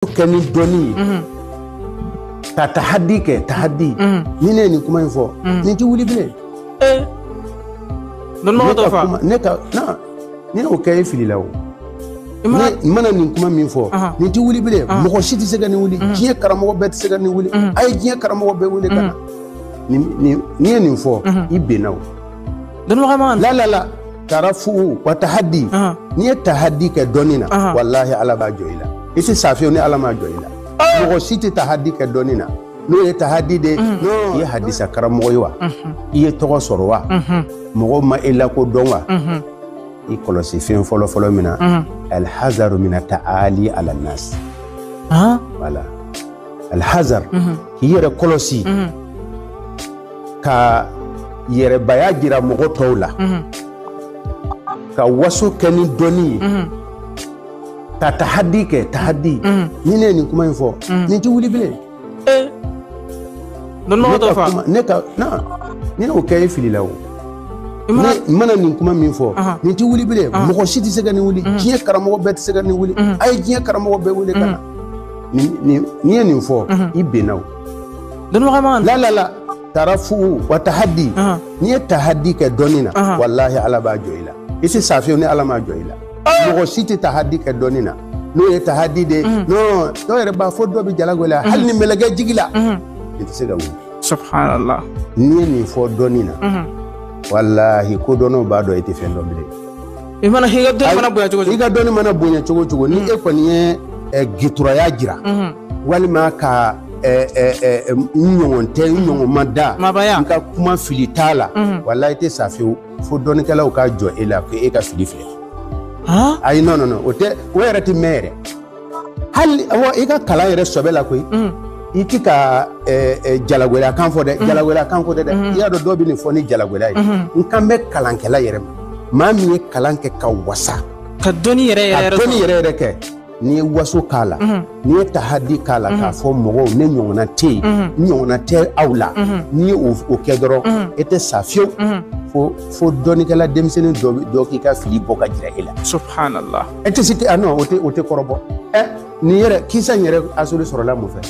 kɛ ni dɔnni ye mhm. ka tahadi kɛ tahadi mhm. ni ne ye nin kuma in fɔ mhm. nin tɛ wuli bilen eh. ne ka na n'i y'o kɛ e filila o ne mana nin kuma min fɔ nin tɛ wuli bilen mɔgɔ si tɛ se ka nin wuli diɲɛ karamɔgɔ bɛɛ tɛ se ka nin wuli a ye diɲɛ karamɔgɔ bɛɛ wele ka na n'i ye nin fɔ i binna o la la la tarafu wa tahaddi n'i ye tahaddi kɛ dɔnni na walahi ala b'a jɔ i la i tɛ sa fiyewu ni ala m'a jɔ i la mɔgɔ si tɛ tahaddi kɛ dɔnni na n'o ye tahaddi de i ye hadisa karamɔgɔ ye wa i ye tɔgɔ sɔrɔ wa mɔgɔw ma e lakodɔn wa i kɔlɔsi fɛn fɔlɔfɔlɔ min na alhazaru mina taali ala nas wala alhazar k'i yɛrɛ kɔlɔsi ka yɛrɛbaya jira mɔgɔ tɔw la ka waso kɛ ni dɔnni ye ka tahadi kɛ tahadi ni ne ye nin kuma in fɔ nin tɛ wuli bilen eh. ne ka na n'i y'o kɛ e filila o ne mana nin kuma min fɔ nin tɛ wuli bilen mɔgɔ si tɛ se ka nin wuli diɲɛ karamɔgɔ bɛɛ tɛ se ka nin wuli a ye diɲɛ karamɔgɔ bɛɛ wele ka na n'i ye nin fɔ i binna o Don ma la lala tarafu wa tahadi n'i ye tahadi kɛ dɔnni na walahi ala b'a jɔ i la i tɛ sa fiyewu ni ala ma jɔ i la mɔgɔ si tɛ tahadi kɛ dɔnni na n'o ye tahadi de dɔw yɛrɛ b'a fɔ dɔ bɛ jalagɛlɛya hali ni mɛlɛkɛ jigila i tɛ se ka wuli subhanallah n'i ye nin fɔ dɔnni na walahi kodɔnnaw b'a dɔn i tɛ fɛn dɔn bilen i mana i ka dɔnni mana bonya cogo cogo i ka dɔnni mana bonya cogo cogo ni e kɔni ye eh, gituraya jira walima ka eh, eh, eh, n ɲɔgɔn tɛ n ɲɔgɔn ma da n ka kuma fili t'a la walahi i tɛ sa fewu fo dɔnnikɛlaw ka jɔ e la ko e ka fili filɛ han ayi non non non o tɛ o yɛrɛ tɛ mɛn yɛrɛ hali i ka kalan yɛrɛ sɛbɛ la koyi i tɛ ka jalagɛlɛya kan fɔ dɛ jalagɛlɛya kan fɔ dɛ dɛ i y'a dɔn dɔw bɛ nin fɔ ni jalagɛlɛya ye n kan bɛ kalankɛla yɛrɛ ma maa min ye kalan kɛ ka wasa ka dɔnni yɛrɛ yɛrɛ kɛ n'i ye waso k'a la n'i ye tahadi k'a la k'a fɔ mɔgɔw ne ɲɔgɔnna tɛ yen n ɲɔgɔnna tɛ aw la n'i ye o kɛ dɔrɔn e tɛ sa fiyewu fo fo dɔnnikɛla denmisɛnnin dɔ k'i ka fili bɔ ka jira e la subhanallah e tɛ se tɛ a o tɛ o tɛ kɔrɔbɔ ɛ nin yɛrɛ kisa in yɛrɛ asili sɔrɔla mun fɛ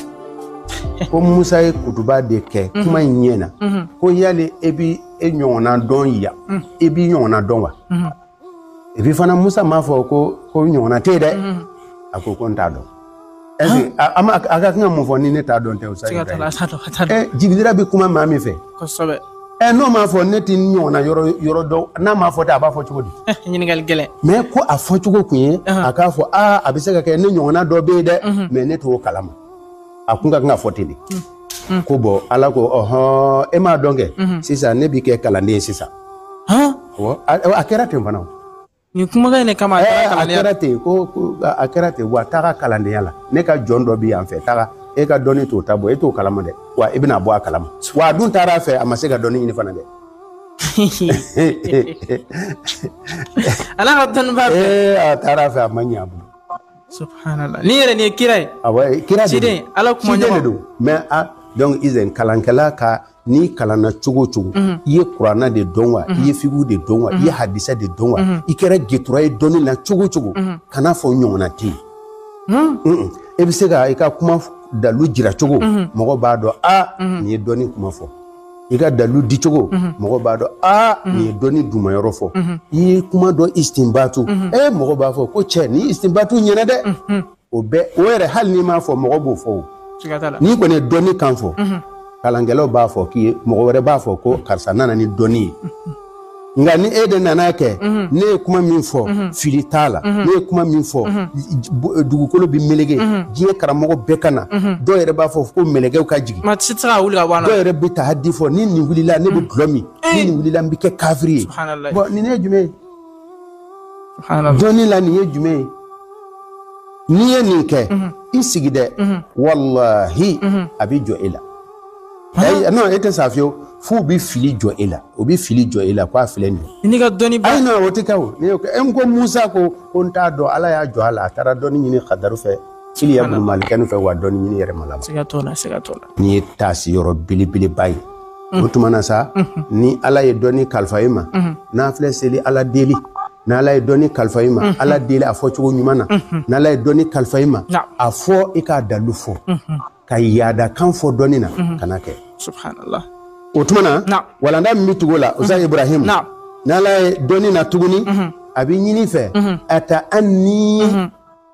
ko musa ye kutuba de kɛ mhm. kuma in ɲɛ na mhm. ko yali e bi e ɲɔgɔnna dɔn yan mhm. e b'i ɲɔgɔnna dɔn wa epi fana musa m'a fɔ ko n ɲɔgɔnna tɛ yen dɛ a ko ko n t'a dɔn A ka kan mun fɔ ni ne t'a dɔn tɛ jibirila bɛ kuma maa min fɛ n'o m'a fɔ ne tɛ ɲɔgɔnna yɔrɔ dɔn n'a m'a fɔ a b'a fɔ cogo di ɲininkali gɛlɛn mɛ ko a fɔ cogo tun ye a k'a fɔ aaa a bɛ se ka kɛ ne ɲɔgɔnna dɔ bɛ yen dɛ mɛ ne t'o kalama a kun ka kan k'a fɔ ten de ko bɔn ala ko ɔɔn e m'a dɔn kɛ sisan ne b'i kɛ kalanden sisan a kɛra ten fana nin kumakan in de kama a taara kalandenya a kɛra ten ko a kɛra ten wa a taara kalandenya la ne ka jɔn dɔ bɛ yan fɛ taga e ka dɔnni t'o ta bɔ e t'o kalama dɛ wa i bɛna bɔ a kalama wa a dun taara a fɛ a ma se ka dɔnni ɲini fana dɛ ala ka dɔnnibaa fɛ ee a taara a fɛ a ma ɲɛ a bolo subhanallah nin yɛrɛ nin ye kira ye awɔ kira de don ciden ala kumaɲɔgɔn de don mais a donc izɛn kalankɛla ka n'i kalanna cogo o cogo mhm. i ye kurana de dɔn wa i mhm. ye figu de dɔn wa i ye mhm. hadisa de dɔn wa i kɛra getura ye dɔnni na cogo o cogo kan'a fɔ n ɲɔgɔnna tɛ yen hmm. e bɛ se ka i ka kuma dalu jira cogo mɔgɔ b'a dɔn a nin ye dɔnni kuma fɔ i ka dalu di cogo mɔgɔ b'a dɔn a nin ye dɔnni dumayɔrɔ fɔ i ye kuma dɔ istinbatu ɛ mɔgɔ b'a fɔ ko cɛ nin istinbatu ɲɛna dɛ o bɛɛ o yɛrɛ hali n'i m'a fɔ mɔgɔ b'o fɔ o siga t'a la n'i kɔni ye dɔnni kan fɔ kalankɛlaw b'a fɔ k'i ye mɔgɔ wɛrɛ b'a fɔ ko karisa nana ni dɔnni ye nka ni e de nana kɛ ne ye kuma min fɔ fili t'a la ne ye kuma min fɔ j- bo- dugukolo bɛ melege diɲɛ karamɔgɔ bɛɛ ka na dɔw yɛrɛ b'a fɔ ko mɛlɛkɛw ka jigin maa si tɛ se ka wuli ka bɔ a la dɔw yɛrɛ bɛ tahadi fɔ ni nin wulila ne bɛ dɔlɔ min ni nin wulila n bɛ kɛ kafiri ye Subhanallah. Bon, nin ye jumɛn ye dɔnni la nin ye jumɛn ye n'i ye nin kɛ mhm. i sigi dɛ mhm. walahi mhm. a bɛ jɔ e la ayi non e tɛ sa fiyewu f'u bɛ fili jɔ e la u bɛ fili jɔ e la k'a filɛ nin ye. n'i ka dɔnni ba ayi non o tɛ kɛ o ne y'o kɛ e ko Musa ko ko n t'a dɔn Ala y'a jɔ a la a taara dɔnni ɲini Kadaru fɛ. Iliya bunu Malikanu fɛ wa dɔnni ɲini yɛrɛ ma la siga t'o la siga t'o la nin ye taasi yɔrɔ belebeleba ye o tuma na sa ni ala ye dɔnni kalifa i ma nafila seli ala deli n'ala ye dɔnni kalifa i ma ala deli a fɔ cogo ɲuman na n'ala ye dɔnni kalifa i ma a fɔ i k'a dalu fɔ ka yaada kan fɔ dɔnni na kana kɛ subhanallah o tuma na walanda min bɛ tugu o la ustaz ibrahim n'ala ye dɔnni na tuguni a bɛ ɲini i fɛ ataanni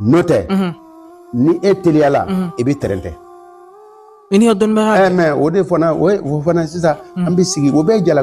n'o tɛ ni e teliyala i bɛ tɛrɛntɛ i ni ka dɔnnibaga ɛ mɛ o de fana o ye- o fana sisan an bɛ sigi o bɛɛ ye jala